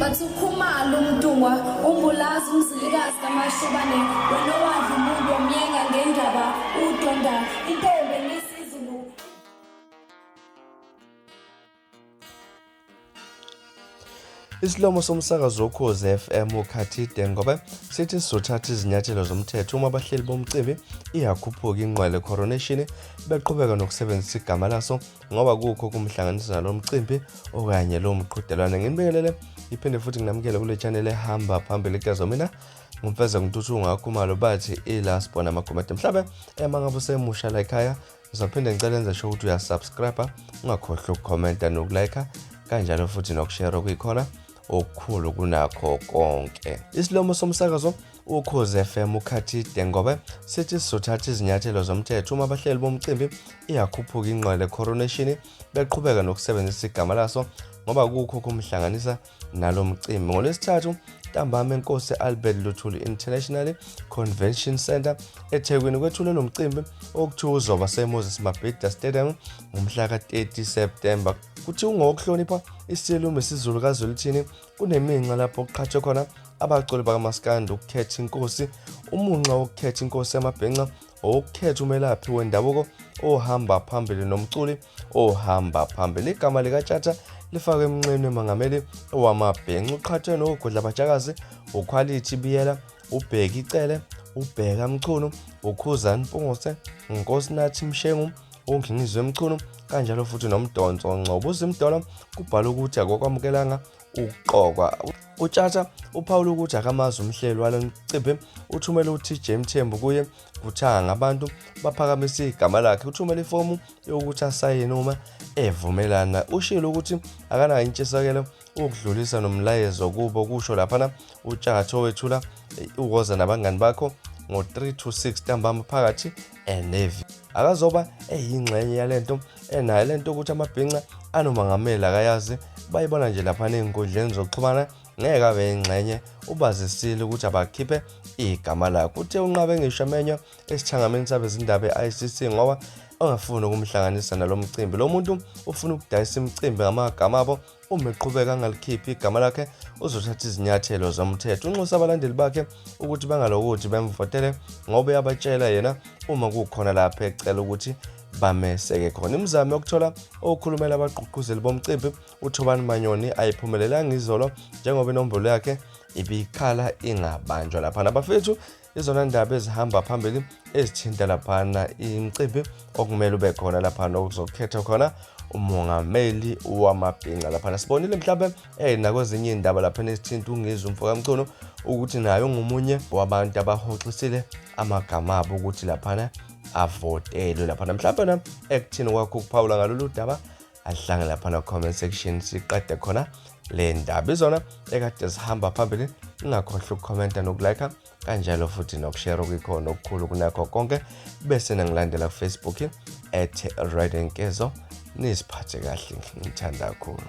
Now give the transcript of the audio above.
Bathi ukhumalo umntungwa umbulazi umzilikazi kamashobane wena owadla umuntu omyenga ngendaba udonda intombi ngesizulu Isilomo somsakazo wokhozi FM ukhathi Dengobe sithi sizothatha izinyathelo zomthetho uma abahleli bomcimbi iyakhuphuka ingqwele coronation beqhubeka nokusebenzisa igama laso ngoba kukho kumhlanganisa nalo mcimbi okanye lowo mqhudelwane nginibingelele iphinde futhi nginamukele kule channel ehamba phambili kuyazo mina ngimfeza ngintuthu ungakhumalo bathi ilast bona amakhomede mhlawumbe ema ngabe usemusha la ekhaya ngizophinde ngicela enze sho ukuthi uyasubscribe ungakhohlwa ukukhomenta nokulike kanjalo futhi nokushare okuyikhona okukhulu kunakho konke isilomo somsakazo Ukhoze FM ukhathi Dengobe sithi sizothatha izinyathelo zomthetho uma abahleli bomcimbi iyakhuphuka ingqwele coronation beqhubeka nokusebenzisa igama laso ngoba kukho kumhlanganisa nalo mcimbi ngolwesithathu ntambama enkosi albert luthuli international convention center ethekwini kwethule lo mcimbi okuthiwa uzoba semoses mabhida stadium ngomhla ka-30 septemba kuthiwa ungowokuhlonipha isilume sizulu kazwelithini Kuneminxa lapho kuqhathwe khona abaculi bakamaskandi ukukhetha inkosi umunxa wokukhetha inkosi yamabhenca owokukhetha umelaphi wendabuko ohamba phambili nomculi ohamba phambili igama likatshatha lifakwe emnxeni wemangameli owamabhenca uqhathwe nowogodla batshakazi ukhwalithi biyela uBheki Cele, uBheka Mchunu, uKhuzani Mpungose, uNkosinathi Mshengu, uNgingizwe Mchunu kanjalo futhi noMdonso Ngcobo uZimdolo kubhala ukuthi akokwamukelanga ukuqokwa utshatha uphawula ukuthi akamazi umhleli walo mcimbi uthumele uTJ Mthembu kuye kuthanga ngabantu baphakamisa igama lakhe uthumele ifomu yokuthi asayine uma evumelana ushilo ukuthi akanayo intshisakelo ukudlulisa nomlayezo kubo kusho laphana utshatho wethula uwoza nabangani bakho ngo-3 to 6 ntambama phakathi enevi akazoba eyingxenye yale nto enayo le nto ukuthi amabhinca anomangameli akayazi bayibona nje laphana ey'nkundleni zokuxhumana ngeke abe yingxenye ubazisile ukuthi abakhiphe igama lakho uthe unqabe ngisho amenywa esithangameni sabezindaba e-icc ngoba ongafuni ukumhlanganisa nalo mcimbi lo muntu ufuna ukudayisa imicimbi ngamagama abo uma eqhubeka angalikhiphi igama lakhe uzothatha izinyathelo zomthetho unxusa abalandeli bakhe ukuthi bangalokuthi bemvotele ngoba uyabatshela yena uma kukhona lapho ecela ukuthi bameseke khona imizamo yokuthola okhulumela abagqugquzeli bomcimbi uthobani manyoni ayiphumelelanga izolo njengoba inombolo yakhe ibikhala ingabanjwa lapha nabafethu izona ndaba ezihamba phambili ezithinta laphana imicimbi okumele ube khona laphana okuzokhethwa khona umongameli wamabhinca laphana sibonile mhlawumbe eh nakwezinye iy'ndaba laphana ezithinta ungizwe umfokamculo ukuthi naye ungomunye wabantu abahoxisile amagama abo ukuthi laphana avotelwe laphana mhlawumbe na ekuthini kwakho ukuphawula ngalolu daba ahlanga lapha na comment section siqede khona le ndaba izona ekade zihamba phambili ungakhohlwa ukukhomenta nokulike kanjalo futhi nokushare okuyikhona okukhulu kunakho konke bese nangilandela kufacebook at redenkezo niziphathe kahle ngithanda kakhulu